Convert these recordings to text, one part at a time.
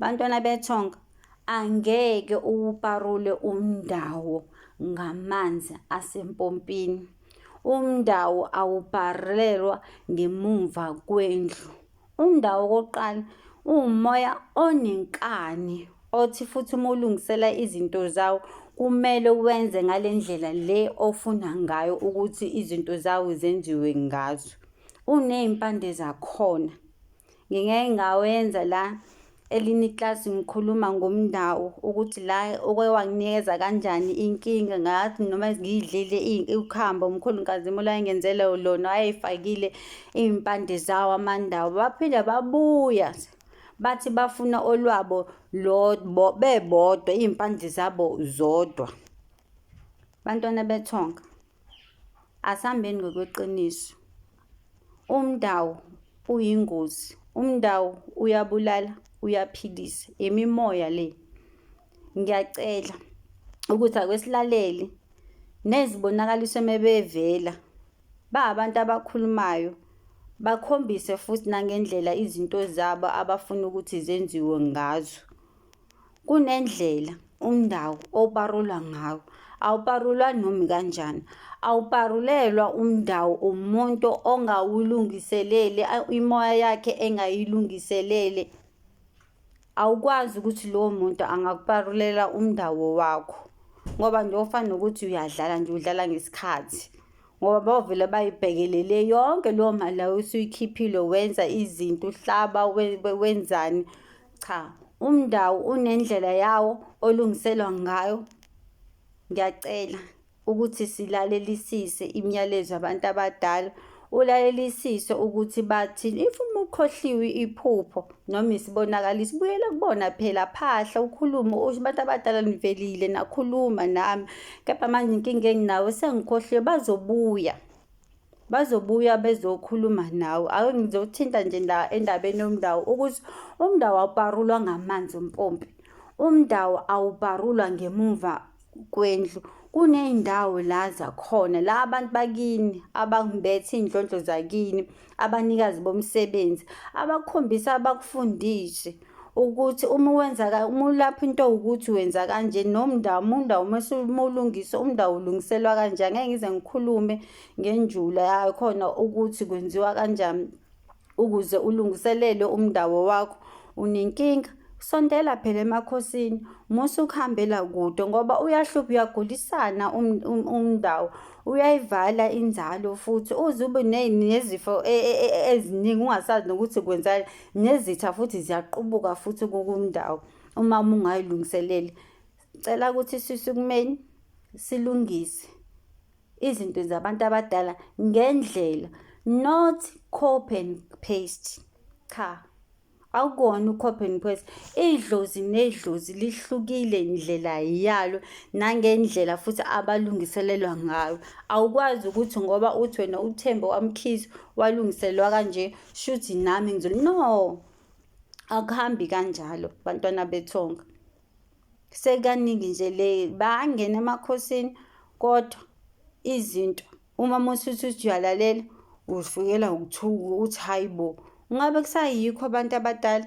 Bantwana bethonga angeke uwuparule umndawo ngamanzi asempompini. Umndawo awuparelwa ngemumva kwendlu. Umndawo okokuqala uwumoya onenkani othi futhi uma ulungisela izinto zawo kumele wenze ngale ndlela le ofuna ngayo ukuthi izinto zawo zenziwe ngazo. Uney'mpande zakhona. Ngingeke ngawenza la elinye iklasi ngikhuluma ngomndawo ukuthi la oke wanginikeza kanjani inkinga ngathi noma ngiyidlile ukhambo umkhulukazi imula engenzele lona wayeyifakile iy'mpande zawo amandawo baphinde babuya bathi bafuna olwabo bebodwa iy'mpande zabo zodwa bantwana bethonga asihambeni ngokweqiniso Umndawu uyingozi. Umndawu uyabulala, uyaphilisa. Imimoya le. Ngiyacela ukuthi akwesilaleli nezibonakaliso mebevela ba abantu abakhulumayo bakhombise futhi nangendlela izinto zabo abafuna ukuthi zenziwe ngazo. Kunendlela umndawo oparulwa ngawo awuparulwa nomi kanjani awuparulelwa umndawo umuntu ongawulungiselele imoya yakhe engayilungiselele awukwazi ukuthi lowo muntu angakuparulela umndawo wakho ngoba nje ofana nokuthi uyadlala nje udlala ngesikhathi ngoba bavele bayibhekelele yonke leyo mali layo usuyikhiphile wenza izinto uhlaba wenzani Cha, umndawo unendlela yawo olungiselwa ngayo. Ngiyacela ukuthi silalelisise imiyalezo yabantu abadala ulalelisise ukuthi bathini if uma ukhohliwe iphupho noma isibonakaliso buyela kubona phela phahla ukhulume usho abantu abadala nivelile nakhuluma nami kepha manje inkinga enginawo sengikhohliwe bazobuya bazobuya bezokhuluma nawe ake ngizothinta nje la endabeni yomndawo ukuthi umndawo awuparulwa ngamanzi ompompi umndawo awuparulwa ngemumva kwendlu kuney'ndawo la zakhona la abantu bakini abambethe iy'ndlondlo zakini abanikazi bomsebenzi abakukhombisa abakufundise ukuthi uma wenza uma ulapha into ukuthi wenza kanje nomndawo umundawo uma umulungisa umndawo ulungiselwa kanje angeke ngize ngikhulume ngenjula yayo khona ukuthi kwenziwa kanjani ukuze ulungiselele umndawo wakho unenkinga sondela phela emakhosini musa ukuhambela kude ngoba uyahlupha uyagulisana um, um, umndawo uyayivala inzalo futhi uze ube nezifo e, e, e, eziningi ungasazi nokuthi kwenzani nezitha futhi ziyaqubuka futhi kukundawo uma ungayilungiseleli cela ukuthi sisukumeni silungise izinto zabantu abadala ngendlela not copy and paste cha akukona ucopy and paste idlozi nedlozi lihlukile indlela yalo nangendlela futhi abalungiselelwa ngayo awukwazi ukuthi ngoba uthi wena uthembe wamkhizi walungiselelwa kanje shuthi nami ngizoli no akuhambi kanjalo bantwana bethonga sekaningi nje le bangena emakhosini kodwa izinto uma musuthi uthi uyalalela ufikela ukuthuka uthi hayi bo ngabe kusayikho abantu abadala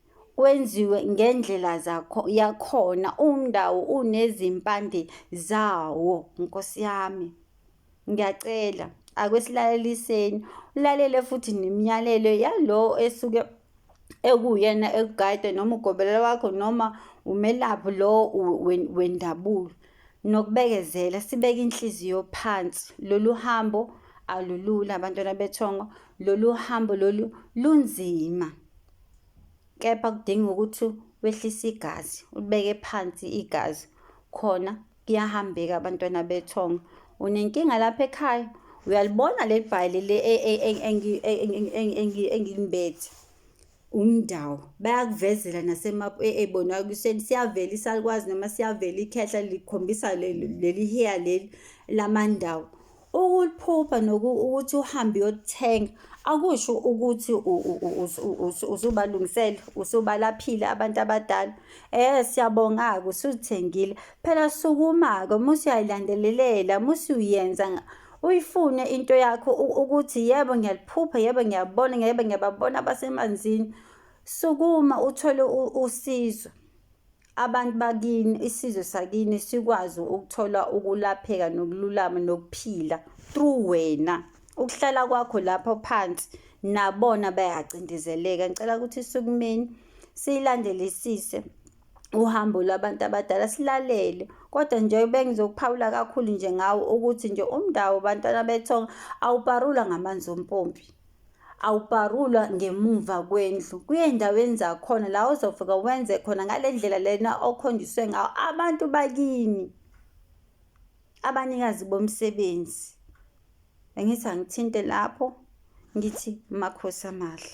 kwenziwe ngendlela zakho yakhona umndawo unezimpande zawo nkosi yami ngiyacela akwesilaleliseni ulalele futhi nemiyalelo yalowo esuke ekuwuyena ekugayide noma ugobelela wakho noma umelaphi lo wendabulo nokubekezela sibeke inhliziyo phansi lolu hambo alulula abantwana bethongo lolu hambo lolu lunzima kepha kudinga ukuthi wehlise igazi ulibeke phansi igazi khona kuyahambeka abantwana bethonga unenkinga lapha ekhaya uyalibona leli bhayili le engilimbethe umndawo bayakuvezela nasemap e, e, bona kuseni siyavela isalikwazi noma siyavela ikhehla likhombisa leli heya leli lamandawo Ukuphupha noku ukuthi uhambe uyothenga akusho ukuthi usubalungisele usubalaphile abantu abadala eh siyabonga-ke usuthengile phela sukuma-ke musi uyayilandelelela musi uyenza uyifune into yakho ukuthi yebo ngiyaliphupha yebo ngiyabona yebo ngiyababona abasemanzini sukuma uthole usizo abantu bakini isizwe sakini sikwazi ukuthola ukulapheka nokululama nokuphila through wena ukuhlala kwakho lapho phansi nabona bayacindezeleka ngicela ukuthi sukumeni siyilandelisise uhambo lwabantu abadala silalele kodwa nje bengizokuphawula kakhulu nje ngawo ukuthi nje umndawo bantwana bethonga awuparula ngamanzi ompompi awubharulwa ngemuva kwendlu kuyey'ndaweni zakhona la ozofika wenze khona ngale ndlela lena okhonjiswe ngawo abantu bakini abanikazi bomsebenzi bengithi angithinte lapho ngithi makhosi amahle